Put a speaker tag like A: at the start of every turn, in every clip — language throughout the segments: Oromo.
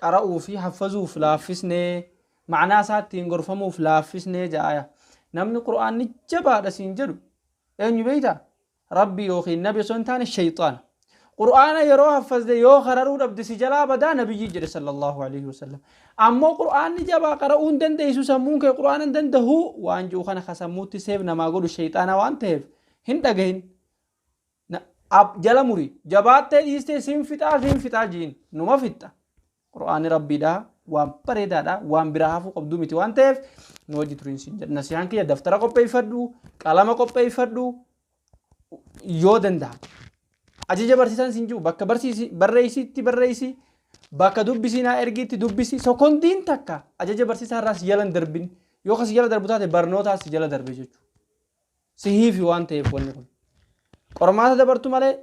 A: qara'uu fi haffazuuf laaffisnee, ma'naa isaa ittiin gorfamuuf laaffisnee ja'aya. Namni Qur'aanni jabaadha siin jedhu eenyu beeyta? Rabbi yookiin Nabi osoo hin taane sheyxaana. Qur'aana yeroo haffazde yoo qararuu dhabde si jalaa badaa Nabiyyi jedhe sallallahu alayhi wa sallam. Ammoo Qur'aanni jabaa qara'uu hin dandeeysu sammuun kee Qur'aana hin dandahuu waan ji'u kana ka sammuutti seef namaa godhu sheyxaana waan taheef hin dhagahin. Na, ab, jala muri. Jabaattee dhiistee sin fixaa sin fixaa jiin. Numa fixxa. Qur'aanni Rabbiidha. Waan bareedaadha. Waan biraa hafuu qabduu miti waan ta'eef nu wajji turiin sin jedha. Nasihaan kiyya daftara qopheeffadhu, qalama qopheeffadhu yoo danda'ame. Ajaja barsiisaan sin jiru bakka barsiisi barreessiitti barreessi bakka dubbisii naa ergiitti dubbisi sekondiin takka ajaja barsiisaa irraa si jala hin darbin yoo kan si jala darbu taate barnootaa si jala darbe jechuudha. sihiifi waan ta'eef wanni kun. Qormaata dabartu malee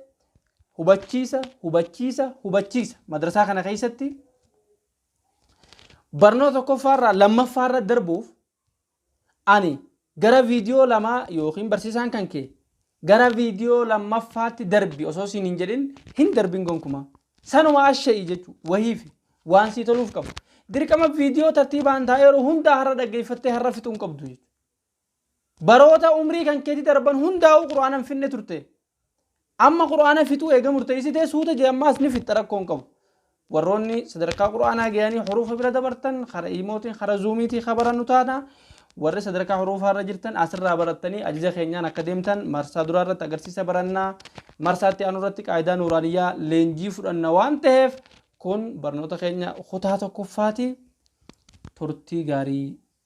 A: hubachiisa, hubachiisa, hubachiisa. Madrasaa kana keessatti barnoota tokkoffaarraa lammaffaarra darbuuf ani gara viidiyoo lamaa yookiin barsiisaan kan kee gara viidiyoo lammaffaatti darbi osoo siin hin jedhin hin darbin gonkumaa. Sanuma asha'ii jechuun wahiifi waan sii toluuf qabu. Dirqama viidiyoo tartiibaan taa'eeru hundaa har'a dhaggeeffattee har'a fixuu hin qabdu jechuudha. Baroota umrii kan keetii darban hundaa'uu qur'aana hin finne turte. Amma qur'aana fixuu eega murteessitee suuta jee ammaas ni fixxa rakkoo hin qabu. Warroonni sadarkaa qur'aanaa gayanii huruufa bira dabartan kara iimootiin kara zuumiitii ka barannu taana warri sadarkaa huruufaa irra jirtan asirraa barattanii ajaja keenyaan akka deemtan marsaa duraa irratti agarsiisa barannaa marsaatti aanu irratti qaayidaa nuuraaniyyaa leenjii fudhanna waan ta'eef kun barnoota keenya kutaa tokkoffaati turtii gaarii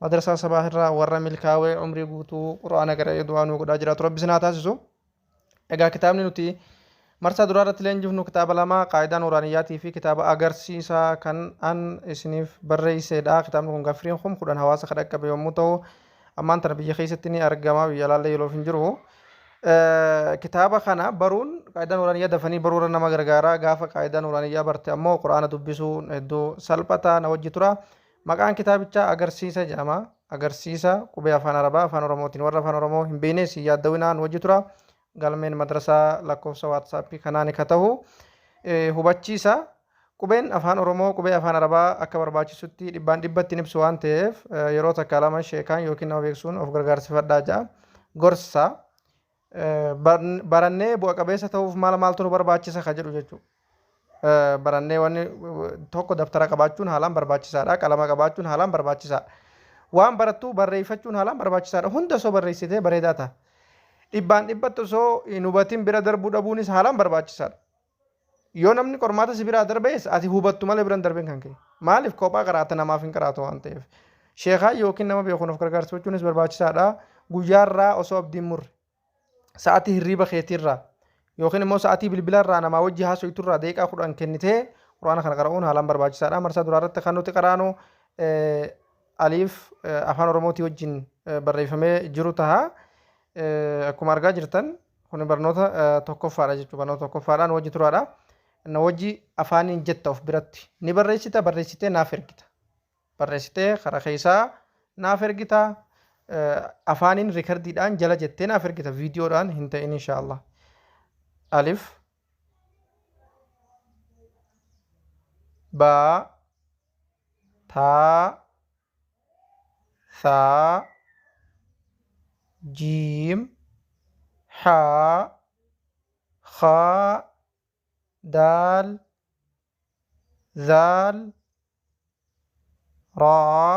B: Madrasaa Sabaah irraa warra milkaawee umrii guutuu Qur'aana qara'ee du'aa nuu godhaa jiraatu Rabbi isin haa taasisu. Egaa kitaabni nuti marsaa duraa irratti leenjifnu kitaaba lama qaayidaa nuuraaniyyaatii fi kitaaba agarsiisaa kan an isiniif barreesseedha. Kitaabni kun gaffiriin kum kudhan hawaasa kan dhaqqabe yommuu ta'u ammaan tana biyya keessatti ni argama biyya alaallee yoloof hin jiru. Kitaaba kana baruun qaayidaa nuuraaniyyaa dafanii baruu irra nama gargaara gaafa qaayidaa nuuraaniyyaa barte ammoo quraana dubbisuun hedduu salphata na wajji tura. Maqaan kitaabichaa Agarsiisa jedhama. Agarsiisa, Qubee Afaan Arabaa Afaan Oromootiin Warra Afaan Oromoo hin beeynees hin yaaddawinaa nu wajji turaa. Galmeen Madrasaa lakkoofsa WhatsApp kanaani ka tahu. Hubachiisa, Qubeen Afaan Oromoo Qubee Afaan Arabaa akka barbaachisutti dhibbaan dhibbatti hin ibsu waan taheef yeroo takkaa lama sheekaan ykn nama beeksuun of gargaarsifadhaa ja'a. Gorsa, barannee bu'a qabeessa ta'uuf maal maaltu nu barbaachisa ka jedhu jechuudha. Barannee wanni tokko dabtara qabaachuun haalaan barbaachisaadha. Qalama qabaachuun haalaan barbaachisaadha. Waan barattu barreeffachuun haalaan barbaachisaadha. Hunda osoo barreessitee bareedaa ta'a. Dhibbaan dhibbatti osoo hin hubatin bira darbuu dhabuunis haalaan barbaachisaadha. Yoo namni qormaata si biraa darbees ati hubattu malee biran darbin kan kee. Maaliif kophaa qaraata namaaf hin qaraatu waan ta'eef. Sheekaa yookiin nama beekuun of gargaarsifachuunis barbaachisaadha. Guyyaarraa osoo abdiin murre. Sa'atii hirriiba keetiirraa yookiin immoo sa'atii bilbilarraa namaa wajji haasoyturraa deeqaa kudhan kennitee quraana kana qara'uun haalaan barbaachisaadha. Marsaa duraa irratti kan nuti qaraanu Alif afaan oromootii wajjin barreeffamee jiru taha akkuma argaa jirtan kun barnoota tokkoffaadha jechuudha barnoota tokkoffaadha nu wajji turaadha na wajji afaaniin jetta of biratti ni barreessita barreessitee naaf ergita barreessitee karaa keessaa naaf ergita afaaniin rikardiidhaan jala jettee naaf ergita viidiyoodhaan hin ta'in inshaallah alif baa taa saa jiim haa khaa daal zaal raa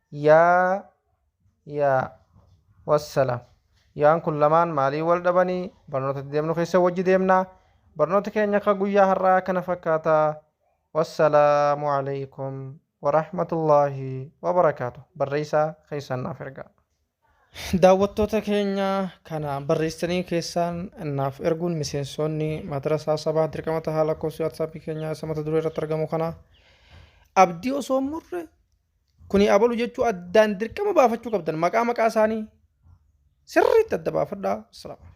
B: Yaa Yaa wassalam Yaan kun lamaan maaliin wal dhabanii barnoota itti deemnu keessa wajji deemna barnooti keenya ka guyyaa har'aa kana fakkaata wassalaamu aleykum warahmatullaahi wabarakaatu barreeysaa keessan naaf ergaa. Daawwattoota keenya kana barreessitanii keessaan naaf erguun miseensoonni Madrasaa Sabaa dirqama tahaa lakkoofsi WhatsApp keenyaa isa mata duree irratti argamu kana abdii osoo hin murre kuni abalu jechuu addaan dirqama baafachuu qabdan maqaa maqaa isaanii sirriitti adda baafadhaa. Assalamu alaikum.